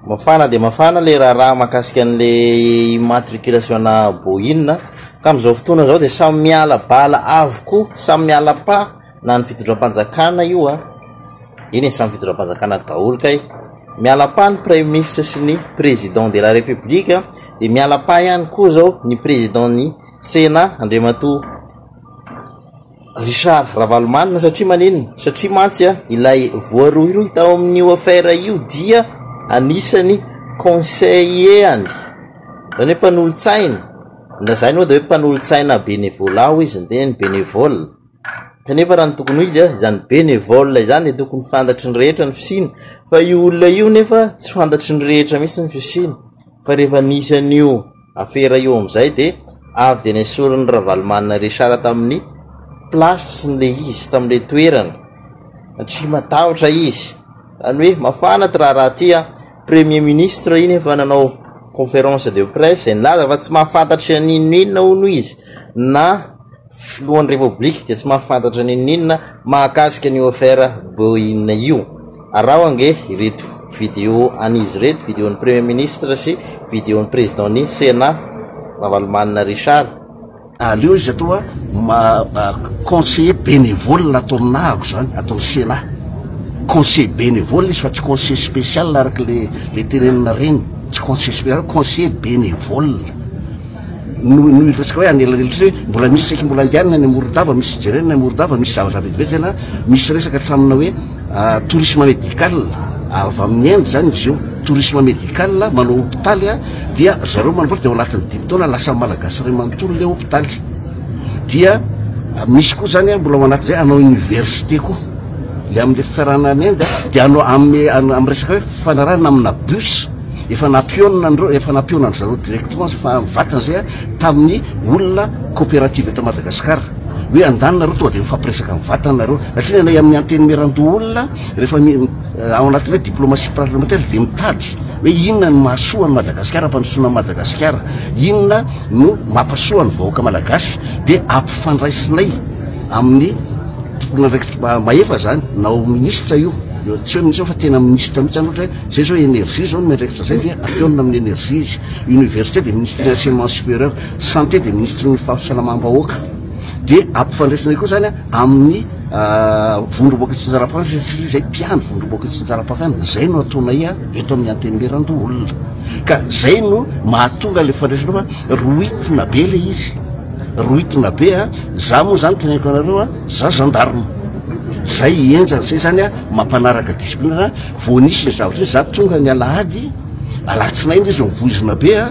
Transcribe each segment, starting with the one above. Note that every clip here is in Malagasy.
Mafana dia mafana ilay raharaha mahakasika an'ilay immatriculation-na Boeing ka amin'izao fotoana izao dia samy miala bala avokoa, samy miala pas na ny fitondram-panjakana io an, eny e, samy fitondram-panjakana daholo kay, miala pas ny praiminisitra sy ny président de la république an, dia miala pas ihany koa izao ny président-n'ny Sénat Andriamatoa. Richard Ravalomanana satria maninona? Satria mantsy ilay voarohirohy tao amin'io affaire io dia anisany conseiller-any, izany hoe mpanolo-tsaina, na izany moa dia hoe mpanolo-tsaina bénévolat hoy izy ny tenany, bénévole, kanefa raha ny tokony ho izy izany bénévole izany dia tokony fantatry ny rehetra ny fisiany fa io olona io nefa tsy fantatry ny rehetra mihintsy ny fisiany fa rehefa nisy an'io Afera io amin'izay dia avy dia nesorin'i Ravalomanana Richard tamin'ny place n'ilay izy, tamin'ilay toerana, satria matahotra izy, izany hoe mafana ity raharaha ity an! Premier ministre iny efa nanao conférence de presse izay nilaza fa tsy mahafantatry an'inon'inona hono izy na Filohan'ny Repoblika dia tsy mahafantatra n'inon'inona mahakasika an'io affaire Boeing io. Araho ange ireto video an'izy ireto, video ny Premier Ministre sy video ny Président ny Sénat, Ravalomanana Richard. Aleo izy atao conseiller bénévole ato amin'ahako izany, ato amin'ny Sénat. Conseiller bénévole izy fa tsy conseiller spécial araka ilay teneninareny. Tsy conseiller spécial fa conseiller bénévole. no no iresaka hoe anelanelotra hoe mbola misy saiky mbola andianina any Morondava misy ijerena any Morondava misy zavatra vetivety na misy resaka tramina hoe ah, tourisme médical avy amin'ny Inde zany izy io tourisme médical manao hôpitaly ah, dia zareo manamboatra dia ao anatin'ny dimy taona lasa malagasy iray manontolo ilay hôpitaly dia ah, misy koa zany ah, mbola ao anatin'izay anao université koa le amin'ny fiarahana any Inde dia anao amin'ny amin'ny resaka hoe fanarahana amina bus Efa nampionona efa nampionandry zareo directement zay fa mivantana zay a tamin'ny olona coopérative eto Madagascar hoe andany nareo tonga de mifampiresaka mivantana nareo satria ny anay amin'ny antenimierandoha olona rehefa ao anatin'ny hoe diplomatie parlementaire de mitady hoe inona ny mahasoa an'i Madagasikara ampandrosoana an'i Madagasikara inona no mampasoa ny vahoaka malagasy de ampifandraisinay amin'ny tomponandraikitra mahefa zany na ao minisitra io tsy hoe minisitra fa tena minisitra mihitsy zany ohatra hoe Zay zao energie zao ny miandraikitra zay dia apeonina amin'ny energie izy. Université dia ministry ny enseignement supérieur, santé dia ministry ny fahasalamam-bahoaka. Dia ampifandraisina koa zany amin'ny vondromboka tsinjaram-pahefana satria zay mpiandry vondromboka tsinjaram-pahefana. Zay no ataonay eto amin'ny antenimierandoholona. Ka zay no mahatonga le fandraisana fa rohitina be le izy. Rohitina be a! Za moa zany teneniko anareo a! Za gendarme. Zay henjana, zay zany mampanaraka discipline. Vao nisy ny zavatra izay za tonga ny alahady, alatsinainy izy vao voizina be a,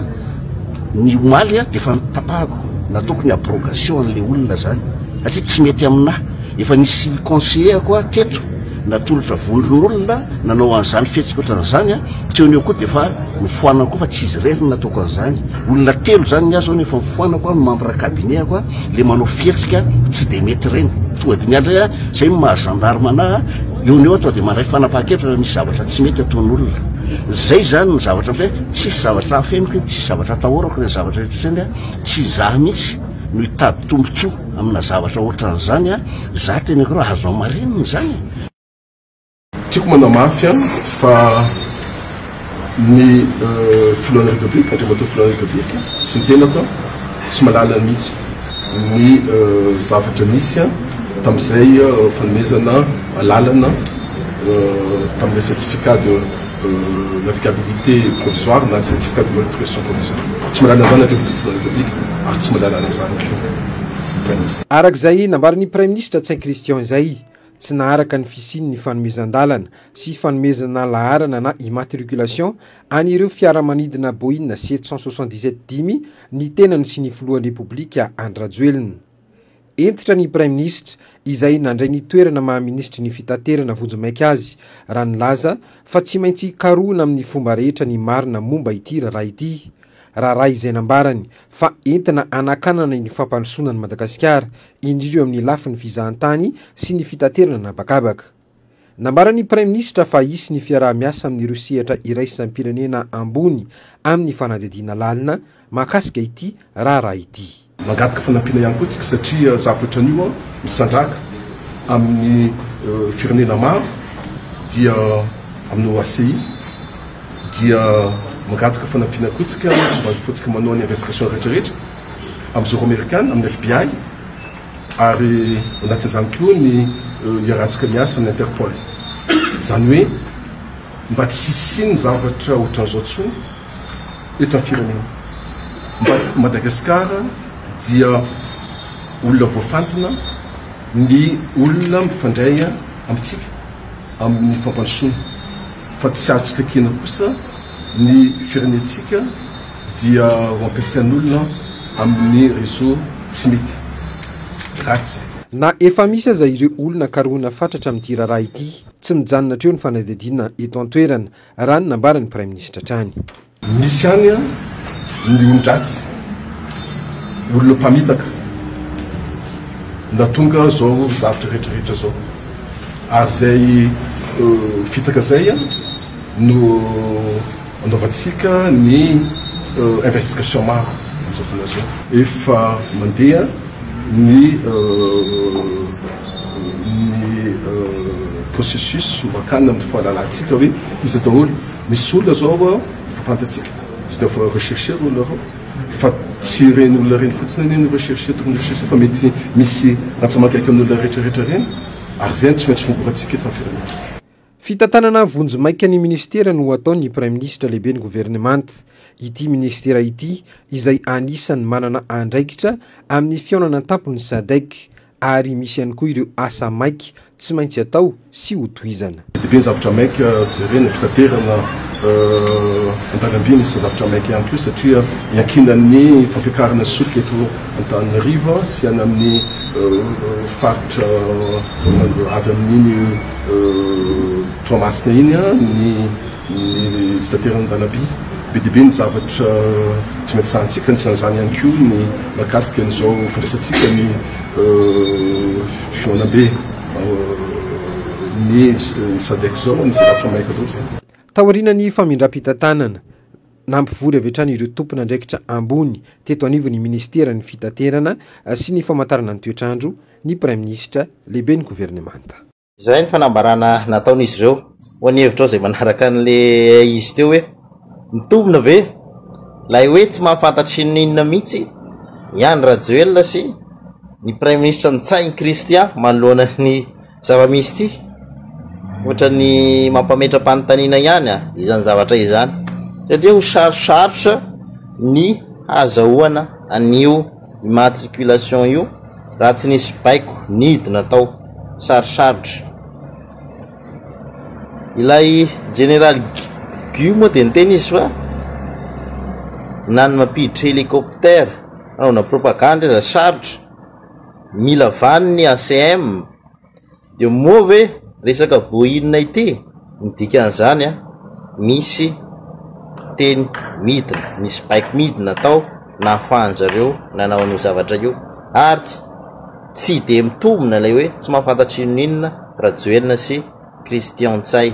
ny omaly a dia efa notapahako, nataoko ny abrogation an'ilay olona zany satria tsy mety aminà, efa nisy conseiller-ko aho teto natolotra vondron'olona nanao an'izany fihetsika ohatran'izany a, teo ny eo koa dia efa nofoanako koa fa tsy izy irery no nataoko an'izany, olona telo zany ny ahy zao no efa nofoanako a, membre cabinet-ko a, ilay manao fihetsika tsy dia mety ireny, tonga dia ny ahy indray a, zay no maha gendarme anà a. Eo no eo aho dia mandray fanapahan-kevitra raha misy zavatra tsy mety ataon'olona. Izay izany no zavatra misy hoe tsisy zavatra afeniko eny, tsisy zavatra atahorako ireny zavatra rehetra ireny an! Tsy izaho mihitsy no hitady tombontsoa amina zavatra ohatran'izany an! Izaho teneniko ireo azo hamarinina izany e! Tiako manamafy an! Fa. Ny filohan'ny Repoblika, Andriamatoa Filohan'ny Repoblika, sy ny tenako tsy mahalala mihitsy ny zavatra nisy tamin'izay fanomezana alalana tamin'ilay certificat de navigabilité provisoire na certificat de bonne navigation provisoire. Tsy mahalala an'izany Andriamatoa Filohan'ny Repoblika ary tsy mahalala an'izany koa ny Praiminisitra. Araka izay nambaran'ny Praiminisitra Tsay Christian izay, tsy naharaka ny fisian'ny fanomezan-dalana sy fanomezana laharana na immatriculation an'ireo fiaramanidina Boeing sept cent soixante-dix-sept dimy ny tenany sy ny filohan'ny Repoblika Andry Rajoelina. Hentitra ny Praiminisitra izay nandray ny toerana maha minisitry ny Fitaterana vonjimaika azy raha nilaza fa tsy maintsy karohina amin'ny fomba rehetra ny marina momba ity raharaha ity, raharaha izay nambarany fa entina hanakanana ny fampandrosoana an'i Madagasikara. indrindra eo amin'ny lafiny fizahantany sy ny fitaterana an'habakabaka. Nambaran'ny Praiminisitra fa hisy ny fiaraha-miasa amin'ireo sehatra iraisam-pirenena ambony amin'ny fanadihadiana lalina mahakasika ity raharaha ity. Mangataka fanampiana ihany koa isika satria zavatra ohatran'io misandrahaka amin'ny firenena maro dia amin'ny OACI dia mangataka fanampiana koa isika mba ahafahantsika manao ny investigation rehetrarehetra. amin'ny zoro amerikana, amin'ny FBI, ary ao anatin'izany koa ny hiarantsika miasa amin'ny Interpol. Izany hoe mba tsy hisian'ny zavatra ohatran'izao intsony eto amin'ny firenena. Mba Madagasikara dia olona voafantina ny olona mifandray amintsika amin'ny fampandrosoana, fa tsy azo tsy kaikena kosa ny firenentsika. dia ho ampiasain'olona amin'ny réseau tsy mety, ratsy. Na efa misy aza ireo olona karohina fatratra amin'ity raharaha ity, tsy mijanona hatreo ny fanadihadiana eto an-toerana, raha ny nambaran'ny Praiminisitra hatrany. Misy ihany ny olon-dratsy, olona mpamitaka, nahatonga izao zavatra rehetrarehetra izao. Ary izay fitaka izay no. Andoavantsika ny investigation maro amin'izao fotoana izao. Efa mandeha ny processus mba hakanina amin'ny fahalalantsika hoe iza daholo. Misy olona izao efa fantatsika, tsy dia efa rechercher olona ireo, fa tsy ireny olona ireny fotsiny anie no rechercher, tokony rechercher fa mety misy rantsamanga akaiky an'olona rehetra rehetra ireny ary izay no tsy maintsy fongorantsika eto amin'ny firenentsika. Fitantanana vonjimaika ny minisitera no ataon'ny Praiminisitra Lehiben'ny Governemanta. Ity minisitera ity izay anisan'ny manana andraikitra amin'ny fihaonana an-tampon'ny Sadec ary misy ihany koa ireo asa maika tsy maintsy atao sy ho tohizana. Be dia be ny zavatra maika jerena, fitaterana, an-dalamby misy zavatra maika ihany koa satria iankinan'ny fampiakarana solika eto Antananarivo sy any amin'ny faritra avy amin'iny Toa masina iny ny fitateran'ny Banabi. Be dia be ny zavatra tsy maintsy sahantsika, anisan'izany ihany koa ny mahakasika an'izao fandraisantsika ny fihaonambe ny Sadec izao, anisan'ny zavatra maika loatra. Taorian'ny famindram-pitantanana. Nampivory avy hatrany ireo tompon'andraikitra ambony teto anivon'ny minisiteran'ny Fitaterana sy ny famantarana ny toetr'andro ny Praiminisitra, Lehiben'ny Governemanta. Izay ny fanambarana nataon'izy ireo. Moa ny hevitrao izay manaraka an'ilay izy teo hoe mitombina ve ilay hoe tsy mahafantatra inon'inona mihitsy i Andry Rajoelina sy ny Praiminisitra Ntsay Christian manoloana ny Zava-misy ity, ohatran'ny mampametra-panontaniana ihany izany zavatra izany. Dia dia ho sarosarotra ny hahazahoana an'io immatriculation io raha tsy nisy baiko nidina tao. Sarosarotra. Ilay General Gu moa dia niteny izy fa na ny mampiditra hélicoptère, anaovana propagande aza sarotra. Mila vaniny ACM. Dia moa ve resaka boina ity ny dikan'izany a! Misy teny midina, misy baiko midina tao nahafahan-dry zareo nanao an'io zavatra io. Ary tsy dia mitombina ilay hoe tsy mahafantatra inon'inona Rajoelina sy Christian Ntsay.